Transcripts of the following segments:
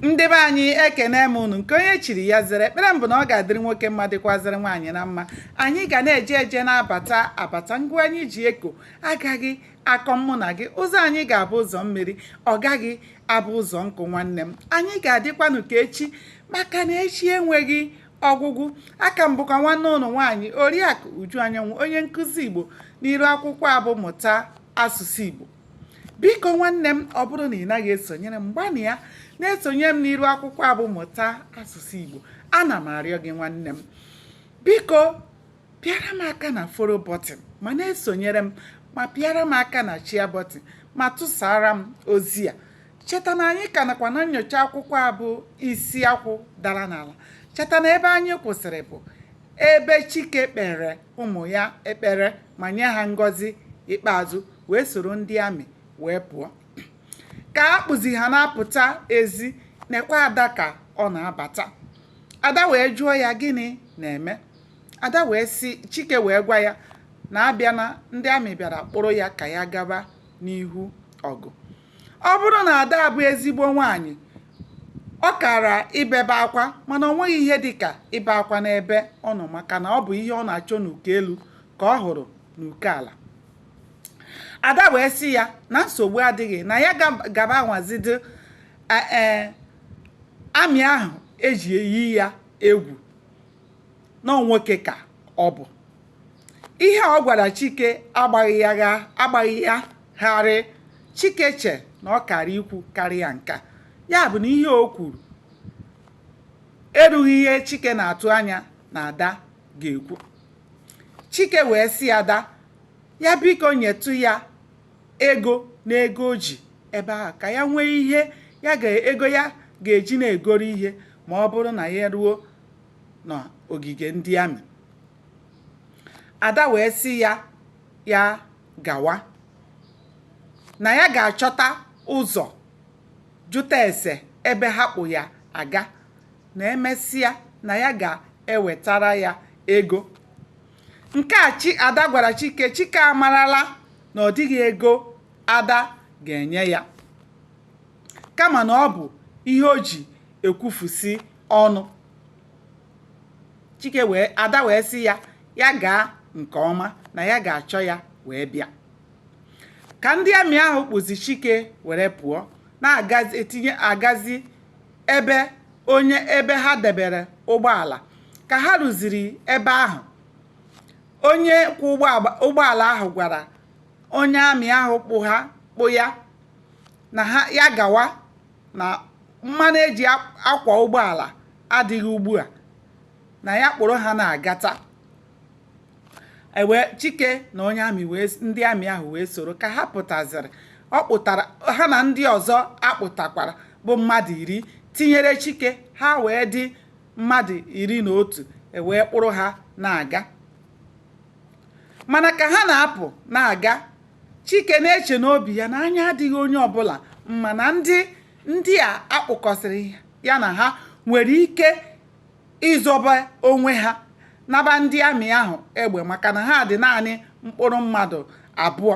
ndị be anyị ekene m unu nke onye chiri ya zere ekpere m bụ na ọ ga-adịrị nwoke mma dịkwazịrị nwaanyị na mma anyị ga na-eje eje na-abata abata ngwa anyị ji eko agaghị akọ mụ na gị ụzọ anyị ga-abụ ụzọ mmiri ọ gaghị abụ ụzọ nkụ nwanne m anyị ga-adịkwanụ ka echi maka na echi enweghị ọgwụgwụ aka m bụkwa nwanne unu nwaanyị oriakụ uju anyanwụ onye nkụzi igbo n'iru akwụkwọ a bụ mụta asụsụ igbo biko nwanne m ọ bụrụ na ị naghị esonyere m gbanịa na-esonyere m n'iru akwụkwọ a bụ mụta asụsụ Igbo ana m arịọ gị nwanne m biko pịara m aka na follow button ma na-esonyere m ma pịara m aka na share button ma tụsara m ozi a cheta na anyị ka nọkwa na nnyocha akwụkwọ a bụ isi akwụ dara n'ala cheta na ebe anyị kwụsịrị bụ ebe Chike kpere ụmụ ya ekpere ma nye ha ngọzi ikpeazụ wee soro ndị amị wee pụọ ka a kpụzi ha na-apụta ezi nekwa ada ka ọ na-abata ada wee jụọ ya gịnị na-eme ada wee si chike wee gwa ya na abịa na ndị amị bịara kpụrụ ya ka ya gaba n'ihu ọgụ ọ bụrụ na ada bụ ezigbo nwaanyị ọ kara ibebe akwa mana ọ nweghị ihe dịka ibe akwa n'ebe ọ nọ maka na ọ bụ ihe ọ na-achọ n'uko elu ka ọ hụrụ n'uko ala ada wee sị ya na nsogbu adịghị na ya gaba anwazidị ee amị ahụ e ji eyi ya egwu na nwoke ka ọ bụ ihe ọ gwara chike agbaghị ya gharịị chike che na ọ kara ikwu karịa nka ya bụ na ihe o kwuru erughị ihe chike na-atụ anya na ada ga-ekwu chike wee sị ada ya biko nyetụ ya ego na ego o ji ebe ahụ ka ya nwee ihe ya ga ego ya ga-eji na-egoro ihe ma ọ bụrụ na ya ruo n'ogige ndị amị ada wee sị ya ya gawa na ya ga-achọta ụzọ jụta ese ebe ha kpụ ya aga na e mesịa na ya ga-ewetara ya ego nke a chi ada gwara chike chike amarala na ọ dịghị ego ada ga-enye ya kama na ọ bụ ihe o ji ekwufusi ọnụ chike wee ada wee sị ya ya gaa nke ọma na ya ga-achọ ya wee bịa ka ndị amị ahụ kpụzi chike were pụọ na-etinye agazi ebe onye ebe ha debere ụgbọala ka ha ruziri ebe ahụ onye kwọ ụgbọala ahụ gwara onye amị ahụ kpụ ha kpụ ya na ya gawa na mmanụ eji akwa ụgbọala adịghị ugbu a na ya kpụrụ ha na-agata ewee chike na onye amị wee ndị amị ahụ wee soro ka ha pụtaziri ọ kpụtara ha na ndị ọzọ akpụtakwara bụ mmadụ iri tinyere chike ha wee dị mmadụ iri na otu ewee kpụrụ ha na-aga mana ka ha na-apụ na-aga Chike na-eche n'obi ya na anya adịghị onye ọbụla mma na ndị ndị a akpụkọsịrị ya na ha nwere ike ịzọba onwe ha naba ndị amị ahụ egbe maka na ha dị naanị mkpụrụ mmadụ abụọ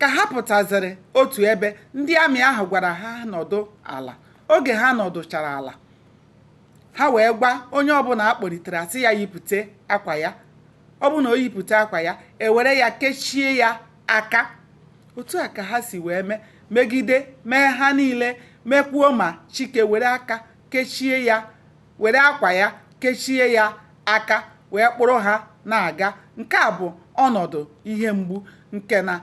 ka ha pụtaziri otu ebe ndị amị ahụ gwara ha nọdụ ala oge ha nọdụchara ala ha wee gwa onye ọbụla akpọlitere asị ya yipụta akwa ya ọ bụ na o yipụta akwa ya ewere ya kechie ya aka otu a ka ha si wee mee megide mee ha niile mekwuo ma chike were aka kechie ya were akwa ya kechie ya aka wee kpụrụ ha na-aga nke a bụ ọnọdụ ihe mgbu nke na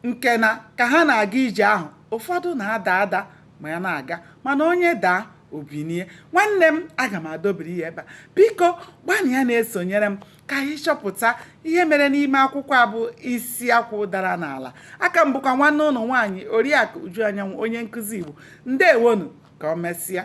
nke na ka ha na-aga ije ahụ ụfọdụ na-ada ada ma ya na-aga mana onye daa o binie nwanne m aga m adobiri ya ebe a biko gbanịa na-esonyere m ka anyị chọpụta ihe mere n'ime akwụkwọ a bụ isi akwụ dara n'ala aka m bụkwa nwanne unu nwaanyị oriakụ uju anyanwụ onye nkụzi igbo ndewonu ka o mesịa